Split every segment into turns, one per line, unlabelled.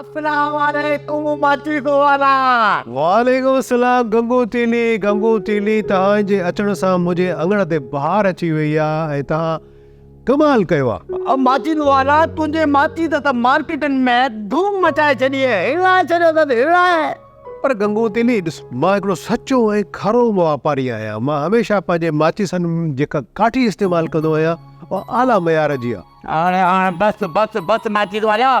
اسلام عليڪم ماچيس وارا.
وعليڪم السلام گنگو تيلي گنگو تيلي تهان جي اچڻ سان منهنجي اڱڻ تي بهار اچي وئي آ ۽ تهان ڪمال ڪيو آ. ماچيس وارا
تنهنجي ماچيس ته مارڪيٽن ۾ ڌوم مچائي ڇڏي آهي هلائي ڇڏيو اٿس هلائي. پر گنگو
تيلي ڏس مان هڪڙو سچو ۽ کارو واپاري آهيان مان هميشه پنهنجي ماچيسن ۾ جيڪا ڪاٺي استعمال ڪندو آهيان اها اعليٰ معيار جي آ. هاڻي هاڻ بس بس
بس ماچيس وارا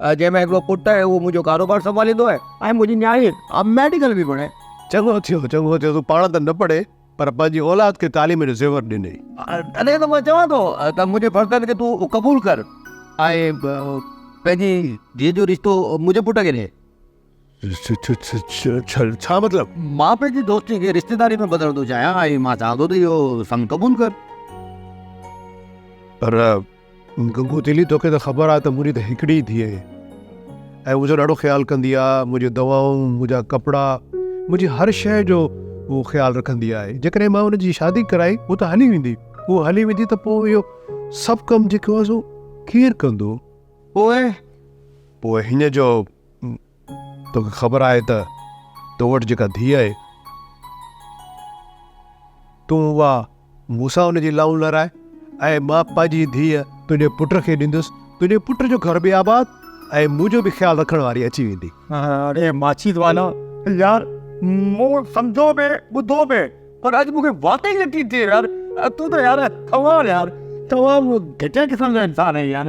جنهن ۾ هڪڙو پٽ آهي اهو منهنجو ڪاروبار سنڀاليندو آهي ۽ منهنجي نياڻي ميڊيڪل به پڙهي. چڱو ٿيو چڱو
ٿيو تون پاڻ ته نه پڙهي پر پنهنجي اولاد کي تعليم جو زيور ڏنئي. تڏهن ته مان
چوان ٿو ته منهنجي فرزند کي تون قبول ڪر ۽ پنهنجي ڌيء جو رشتو منهنجي پٽ کي ڏي. ڇا
مطلب؟ مان پنهنجي دوستي
کي رشتيداري ۾ بدلڻ ٿو چاهيان ۽ مان چاهان ٿو ته اهو سڱ قبول ڪر.
پر گنگو تيلي توکي ته خبر آهي ته منهنجي ته هڪڙي ئي ڌيء آهي ۽ منهنجو ڏاڍو خيال ڪندي آهي. منهنجيون دوائون، منهنجا ڪپڙا، منهنجي هر شيء جو هوء خيال رکندي آهي. جيڪڏهن مان هن جي شادي ڪرائي هوء ته هلي ويندي. هوء هلي ويندي ته پوء اهو سڀ ڪم جيڪو آهي سو ڪير ڪندو؟ پوء؟ پوء هن جو. توکي خبر آهي ته تو وٽ جيڪا ڌيء آهي، تون اها مون سان ان جي لانهون لارائي ۽ مان پنهنجي ڌيء تنهنجي پٽ کي ڏيندس. تنهنجي پٽ جو گهر به آباد ۽ منهنجو به خيال رکڻ واري اچي ويندي. اڙي ماڇي
دوانا، يار مون سمجهو به ٻڌو به پر اڄ مون کي واقعي يقين ٿئي يار تون ته يار ڪمال يار تمام گهٽيا قسم جو انسان آهين يار.